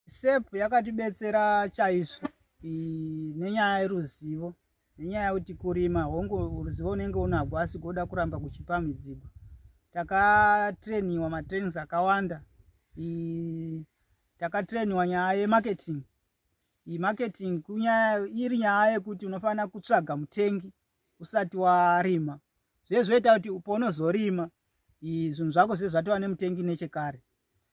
sep yakatibetsera chaizvo nenyaya yeruzivo nenyaya yekuti kurima hongu ruzivo unenge unagwo asi goda kuramba kuchipa midzigwa takatrainiwa matrainings akawanda takatrainiwa nyaya yemarketing marketing kunyaya iri nyaya yekuti unofanira kutsvaga mutengi usati warima zvezvoita kuti upo unozorima zvinhu zvako zvezvatova nemutengi nechekare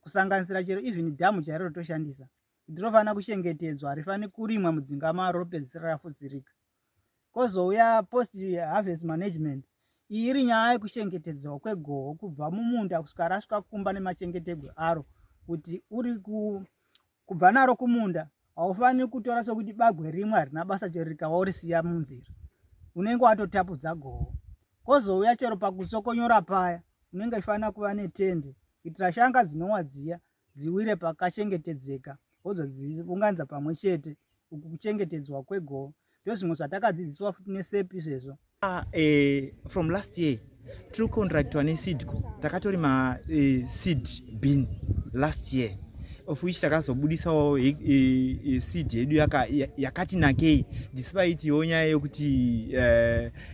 kusanganisira chero even dhamu chairo rotoshandisa kuti rofanira kuchengetedzwa harifani kurimwa mudzinga maro ropedzisira rafuzirika kozouya post harvest management iyi iri nyaya yekuchengetedzwa kwegoho kubva mumunda kusvika rasvika kumba nemachengetegwe aro kuti uri ku kubva naro kumunda haufaniri kutora sokuti bagwe rimwe harina basa chero rikawa urisiya munzira unenge watotapudza goho kozouya chero pakusokonyora paya unenge ifanira kuva netende kuitira shanga dzinowa dziya dziwire pakachengetedzeka wozodziunganidza pamwe chete uku kuchengetedzwa kwegoho ndozvimwe zvatakadzidziswa futi nesep izvezvo ah, eh, from last year tiri kucontractwa nesidco takatori maseed eh, bin last year of which takazobudisawo eh, eh, seed yedu yakati nakei despite yo nyaya yokuti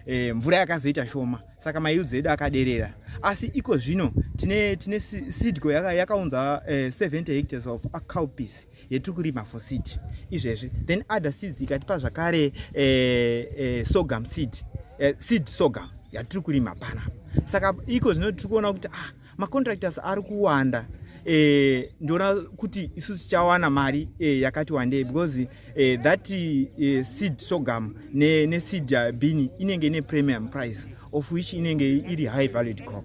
eh, mvura yakazoita shoma saka mayields edu akaderera asi iko zvino tine seedco yakaunza 70 hectares of acalpis yetiri kurima for seed izvezvi then other seeds ikatipa zvakare eh, eh, sorghum seed eh, seed sorghum yatiri kurima pana saka iko zvino tiri kuona kuti ah, macontractors ari kuwanda eh, ndiona kuti isu tichawana mari eh, yakati wandei because eh, that eh, seed sorghum neseed ne bini inenge ine premium price of which inenge iri high valued crop